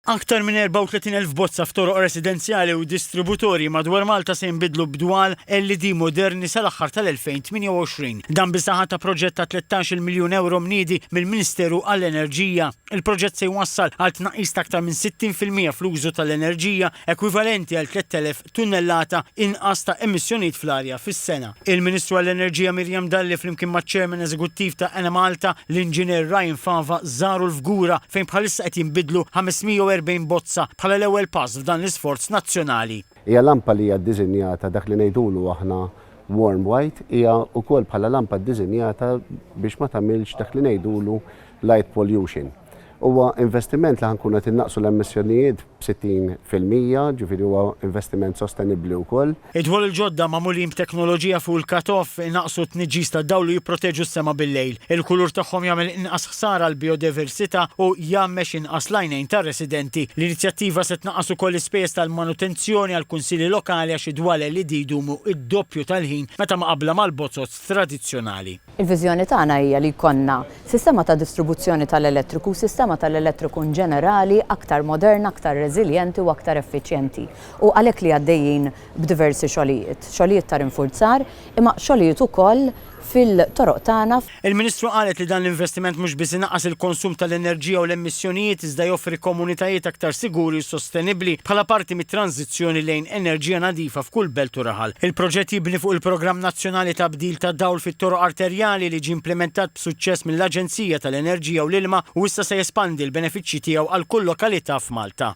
Aktar minn 34,000 bozza f'toroq residenzjali u distributorji madwar Malta se jinbidlu b'dwal LED moderni sal-aħħar tal-2028. Dan bis-saħħa ta' proġett ta' tlettax-il miljun ewro mniedi mill-Ministeru għall-Enerġija. Il-proġett se jwassal għal tnaqqis ta' aktar minn 60 fil-mija fl-użu tal-enerġija, ekwivalenti għal 3,000 tunnellata inqas ta' emissjonijiet fl-arja fis-sena. Il-Ministru għall-Enerġija Miriam Dalli flimkien maċ-Chairman Eżekuttiv ta' Enemalta, l-Inġinier Ryan Fava żaru l-Fgura fejn bħalissa qed jinbidlu 540 bozza bħala l-ewwel pass f'dan l-isforz nazzjonali. Hija lampa li hija ddiżinjata dak li ngħidulu aħna warm white, hija wkoll bħala lampa ddiżinjata biex ma tagħmilx dak li ngħidulu Light pollution. Huwa investiment li ħa nkunu qed innaqqsu l-emissjonijiet b'60 fil-mija, ġifieri huwa investiment sostenibbli wkoll. Id-dwal il-ġodda magħmulin b'teknoloġija fuq il-cut-off inaqqsu t-tniġġis tad-dawl u jipproteġu s-sema bil-lejl. Il-kulur tagħhom jagħmel inqas ħsara għall-bijodiversità u jgħammex inqas l-għajnejn tar-residenti. L-inizjattiva se tnaqqas ukoll l-ispejjeż tal-manutenzjoni għall-kunsilli lokali għax id-dwal LED jdumu d-doppju tal-ħin meta mqabbla mal-bozoz tradizzjonali. Il-viżjoni tagħna hija li jkollna sistema ta' distribuzzjoni tal-elettriku u sistema tal-elettriku in ġenerali aktar moderna, aktar reżiljenti u aktar effiċjenti u għalhekk li għaddejjin b'diversi xogħlijiet, xogħlijiet ta' rinfurzar imma xogħlijiet ukoll fil-toroq tagħna. Il-Ministru qalet li dan l-investiment mhux biss inaqqas il-konsum tal-enerġija u l-emissjonijiet iżda joffri komunitajiet aktar siguri u sostenibbli bħala parti mit-tranżizzjoni transizzjoni lejn enerġija nadifa f'kull belt u raħal. Il-proġett jibni fuq il-Programm Nazzjonali ta' Bdil tad-Dawl fit-Toroq Arterjali li ġie implimentat b'suċċess mill-Aġenzija tal-Enerġija u l-Ilma u issa se jespandi l-benefiċċji tiegħu għal kull lokalità f'Malta.